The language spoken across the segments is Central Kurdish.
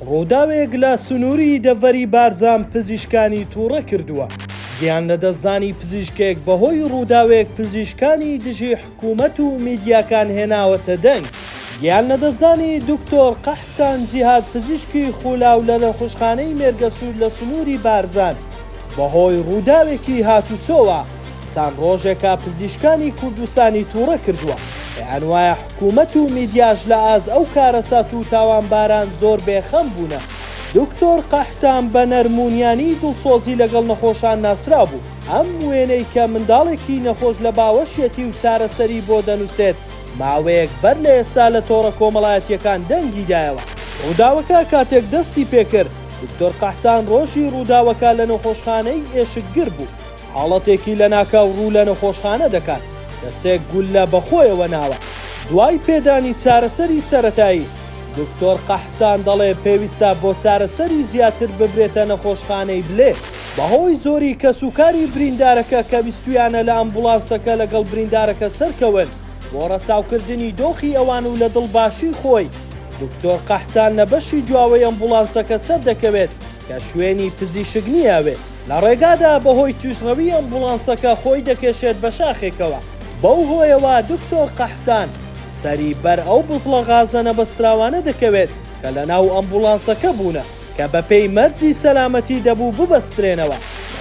ڕووداوێک لە سنووری دەڤەری بارزان پزیشکانی تووڕە کردووە، گیان لەدەستدانی پزیشکێک بەهۆی ڕووداوێک پزیشکانی دژی حکوومەت و میدیاکان هێناوەتە دەنگ، گیان لەدەستدانی دکتۆر قەحپتان جیهاد پزیشکی خوولاو لە نەخوشخانەی مێرگەسوور لە سنووری بارزان بەهۆی ڕووداوێکی هاتوچۆوە چەند ڕۆژێکە پزیشکانی کوردستانی تووڕە کردووە، پێیانوایە حکومەت و میدیاش لە ئاز ئەو کارەسات و تاوانباران زۆر بێ خەم بوونە. دکتۆر قەحتان بە نەرمونیانی دڵسۆزی لەگەڵ نەخۆشان ناسرا بوو. ئەم وێنەی کە منداڵێکی نەخۆش لە باوەشیەتی و چارەسەری بۆ دەنووسێت ماوەیەک بەر لە ئێستا لە تۆڕە کۆمەڵایەتیەکان دەنگی دایەوە. ڕووداوەکە کاتێک دەستی پێکرد، دکتۆر قەحتان ڕۆژی ڕووداوەکە لە نەخۆشخانەی ئێشکگر بوو. حاڵەتێکی لەناکاو ڕوو لە نەخۆشخانە دەکات کە سێ گوللە بەخۆیەوە ناوە. دوای پێدانی چارەسەری سەرەتایی، دکتۆر قەحتان دەڵێ پێویستە بۆ چارەسەری زیاتر ببرێتە نەخۆشخانەی بلێ. بەهۆی زۆری کەسوکاری بریندارەکە کە ویستویانە لە ئەمبوڵانسەکە لەگەڵ بریندارەکە سەرکەون بۆ ڕەچاوکردنی دۆخی ئەوان و لە دڵباشی خۆی، دکتۆر قەحتان لە بەشی دواوەی ئەمبوڵانسەکە سەردەکەوێت کە شوێنی پزیشک نییە ئەوێ. لە ڕێگادا بەهۆی توشڕەوی ئەمبوڵانسەکە خۆی دەکێشێت بە شاخێکەوە، بەو هۆیەوە دکتۆر قەحتان سەری بەر ئەو بوتڵە غازە نەبەستراوانە دەکەوێت کە لەناو ئەمبوڵانسەکە بوونە کە بەپێی مەرجی سەلامەتی دەبوو ببەسترێنەوە،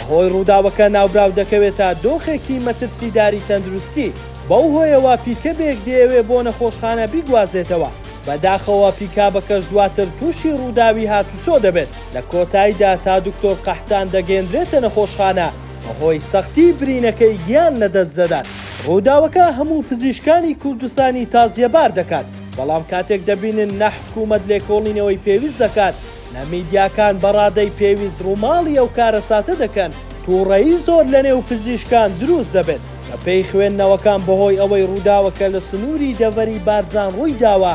بەهۆی ڕووداوەکە ناوبراو دەکەوێتە دۆخێکی مەترسیداری تەندروستی، بەو هۆیەوە پیکەبێک دەیەوێت بۆ نەخۆشخانە بیگوازێتەوە، بەداخەوە پیکابەکەش دواتر توشی ڕووداوی هاتوچۆ دەبێت. لە کۆتایدا تا دکتۆر قەحتان دەگەیەندرێتە نەخۆشخانە بەهۆی سەختی برینەکەی گیان لەدەست دەدات. ڕووداوەکە هەموو پزیشکانی کوردستانی تازیەبار دەکات، بەڵام کاتێک دەبینن نە حکوومەت لێکۆڵینەوەی پێویست دەکات، نە میدیاکان بە ڕادەی پێویست ڕووماڵی ئەو کارەساتە دەکەن، توڕەیی زۆر لەنێو پزیشکان دروست دەبێت. بەپێی خوێندنەوەکان بەهۆی ئەوەی ڕووداوەکە لە سنووری دەڤەری بارزان ڕووی داوە،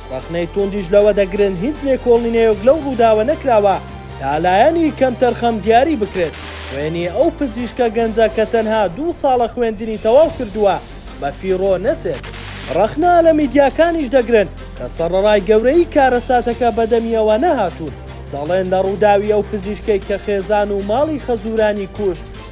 ڕەخنەی توندیش لەوە دەگرن هیچ لێکۆڵینەیەک لەو ڕووداوە نەکراوە تا لایەنی کەمتەرخەم دیاری بکرێت وێنی ئەو پزیشکە گەنجە کە تەنها دوو ساڵە خوێندنی تەواو کردووە بە فیڕۆ نەچێت. ڕەخنە لە میدیاکانیش دەگرن کە سەڕەڕای گەورەیی کارەساتەکە بەدەمییەوە نەهاتوون دەڵێن لە ڕووداوی ئەو پزیشکەی کە خێزان و ماڵی خەزوورانی کوشت،